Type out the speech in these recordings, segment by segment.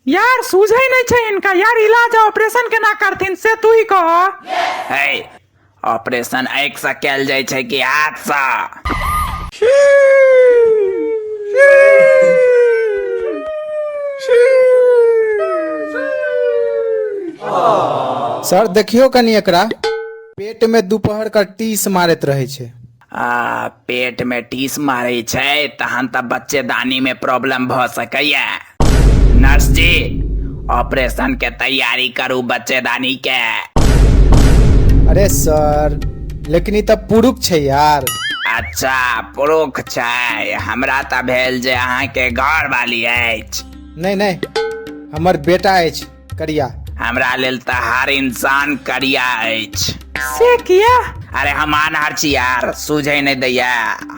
यार सूझे नहीं छे इनका यार इलाज आ ऑपरेशन केना करथिन से तू ही कह है ऑपरेशन आँख से कल जाय छै कि हाथ से सर देखियो कनी एकरा पेट में दोपहर का टीस मारत रहे छै आ पेट में टीस मारे छै तहन तऽ बच्चेदानी में प्रॉब्लम भऽ सकैया नर्स जी ऑपरेशन के तैयारी करू बच्चेदानी के अरे सर लेकिन ई तऽ पुरुख छै यार अच्छा पुरुख छै हमरा तऽ भेल जे अहाँके घर वाली अछि नहि नहि हमर बेटा अछि करिया हमरा लेल तहार इंसान करिया अछि से किया अरे हम आनहर छी यार सूझे नहि दैया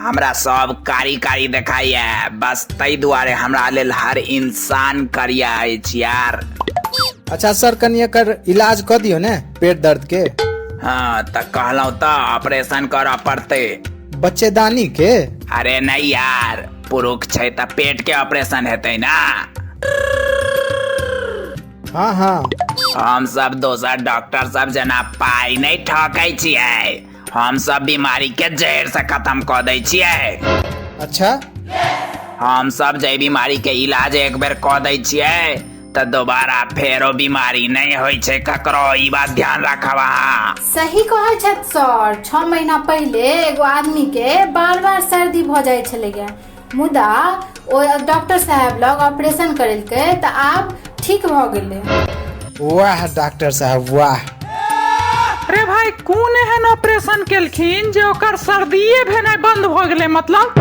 हमरा सब कारी कारी देखाइया बस ताहि दुआरे हमरा लेल हर इंसान करिया अछि यार अच्छा सर कनी एकर इलाज कऽ दियौ ने पेट दर्द के हाँ तऽ कहलहुँ तऽ ऑपरेशन करऽ पड़तै बच्चेदानी के अरे नहीं यार पुरुख छै तऽ पेट के ऑपरेशन हेतै ना हाँ हाँ हम सब दोसर डॉक्टर सब जना पाई नहीं ठकै छियै हम सब बीमारी के जड़ से खत्म कऽ दै छियै अच्छा हम सब जै बीमारी के इलाज एक बेर कऽ दै छियै तऽ दोबारा फेरो बीमारी नहि होइ छै ककरो ई बात ध्यान राखब अहाँ सही कहै छथि सर छओ महीना पहिले एगो आदमी के बार बार सर्दी भऽ जाइ छलैया मुदा ओ डॉक्टर साहब लग ऑपरेशन करेलकै तऽ आब ठीक भऽ गेलै वाह डॉक्टर साहब वाह अरे भाई कोन एहन ऑपरेशन केलखिन जे ओकर सर्दिये भेनाइ बंद भऽ गेलै मतलब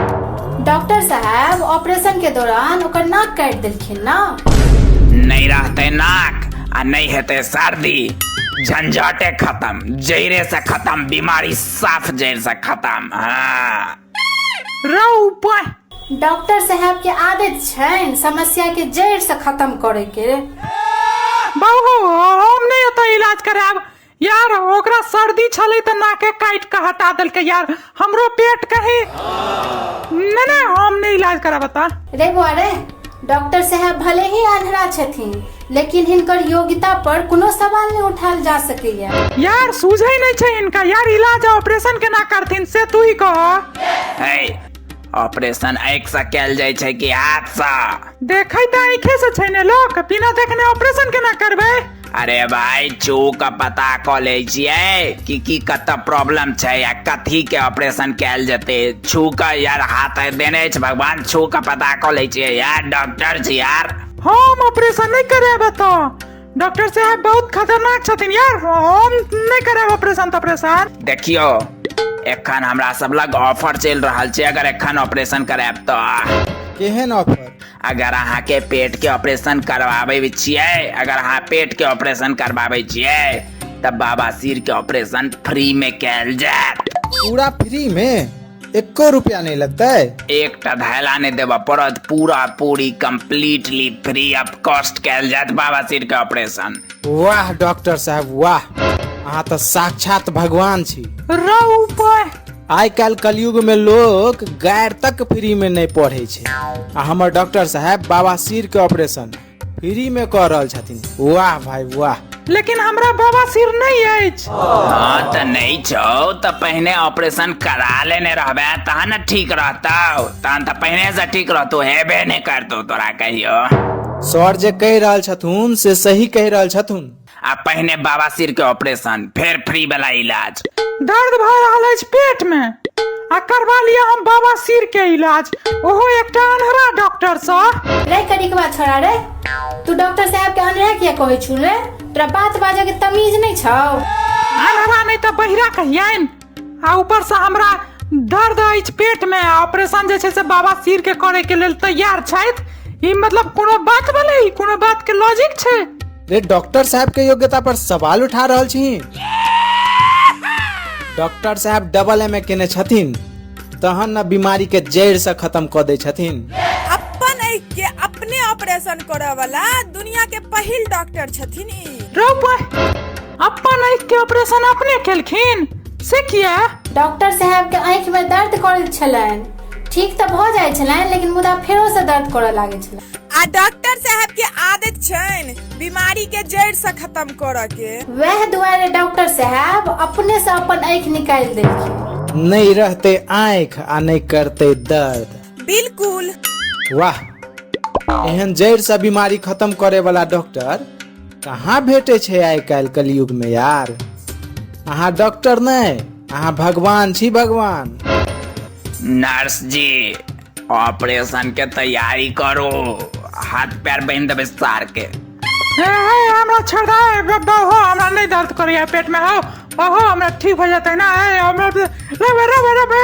डॉक्टर साहब ऑपरेशन के दौरान ओकर नाक काटि देलकै खेलना नहि रहतै नाक आ नहि हेतै सर्दी झंझटे खत्म जैरे से खत्म बीमारी साफ जैर से खत्म हाँ रौ उपाय डॉक्टर साहब के आदत छनि समस्या के जड़ से खत्म करे के बाबू हम नहि एतऽ इलाज करायब यार ओकरा सर्दी छलै तऽ नाके काटि कऽ हटा देलकै यार हमरो पेट कहे नहि नहि हम नहि इलाज कराब ता रे बौआरे डॉक्टर साहब भले ही आधरा छथिन लेकिन हिनकर योग्यता पर कोनो सवाल नहि उठायल जा सकैया यार सूझै नहि छै इनका यार इलाज आ ऑपरेशन केना करथिन से तू ही कह है ऑपरेशन आँखि से कयल जाइ छै कि हाथ से देखै तऽ आँखे से छै ने लोक बिना देखने ऑपरेशन केना करबै अरे भाई चू का पता कऽ लै छियै कि की कतऽ प्रॉब्लम छै आ कथी के ऑपरेशन कैल जेतै छू का यार हाथ आइ देने अछि भगवान छू का पता कऽ लै छियै यार डॉक्टर छी यार हम ऑपरेशन नहीं करेब एतऽ डॉक्टर साहब बहुत खतरनाक छथिन यार हम नहीं करेब ऑपरेशन तॉपरेशन देखियो एखन हमरा सब लग ऑफर चलि रहल छै अगर एखन ऑपरेशन करायब तऽ केहन ऑफर अगर अहाँ के पेट के ऑपरेशन करवाबे छियै अगर अहाँ पेट के ऑपरेशन करवाबे छियै तब बाबा सिर के ऑपरेशन फ्री में कैल जात पूरा फ्री में एको रुपया नहीं लगता है एक टा धैला ने देवा पड़त पूरा पूरी कम्प्लीटली फ्री ऑफ कॉस्ट कैल जात बाबा सिर के ऑपरेशन वाह डॉक्टर साहब वाह अहाँ तो साक्षात भगवान छी रौ ऊपर आइ काल्हि कलयुगमे लोक गायर तक फ्रीमे नहि पढ़ै छै आ हमर डॉक्टर साहब बाबा सिर के ऑपरेशन फ्रीमे कऽ रहल छथिन वाह भाई वाह लेकिन हमरा बाबा सिर नहीं अछि हाँ तऽ नहि छौ तऽ पहिने ऑपरेशन करा लेने रहबे तहन ने ठीक रहतौ तहन तऽ पहिने से ठीक रहतौ हेबे नहि करतौ तोरा कहियो सर जे कहि रहल छथुन से सही कहि रहल छथुन आ पहिने बवासीर के ऑपरेशन फेर फ्री वाला इलाज दर्द भऽ रहल अछि पेट मे आ करबा लिअ हम बाबा सिर के इलाज ओहो एकटा अनहरा डॉक्टर सँ रे कड़ी के बात छोड़ा रे तू डॉक्टर साहब के अनरह किया कहै छु रे तोरा बात बाजै के तमीज नहि छौ अनहरा नहि तऽ बहिरा कहियनि आ ऊपर से हमरा दर्द अछि पेट में आ ऑपरेशन जे छै से बाबा सिर के करे के लेल तैयार छथि ई मतलब कोनो बात भेलै ई कोनो बात के लॉजिक छै रे डॉक्टर साहब के योग्यता पर सवाल उठा रहल छी डॉक्टर साहब डबल एम ए केने छथिन तहन न बीमारी के जड़ से खत्म क दै छथिन अपन आँखि के अपने ऑपरेशन करऽ वाला दुनिया के पहिल डॉक्टर छथिन ई रौ बा- अपन आँखि के ऑपरेशन अपने केलखिन से किया डॉक्टर साहब के आँखि में दर्द करैत छलनि ठीक तऽ भऽ जाइत छलनि लेकिन मुदा फेरो से दर्द करऽ लागैत छलनि आ डॉक्टर साहब के आदत छनि बीमारी के जड़ से खत्म करऽ के वएह दुआरे डॉक्टर साहब अपने से अपन आँखि निकालि देलखिन नहीं रहते आँख आ नहीं करते दर्द बिल्कुल वाह एहन जड़ से बीमारी खत्म करे वाला डॉक्टर कहाँ भेटै छै आइ काल्हि कलयुगमे यार अहाँ डॉक्टर नहि अहाँ भगवान छी भगवान नर्स जी ऑपरेशन के तैयारी करो हाथ पैर बांध देबे सार के हे हे हमरा छोड़ दे हे, ब- बहु हमरा नहीं दर्द करे है पेट में हो बहु हमरा ठीक हो जाता है ना हे हमरा रबे रबे रबे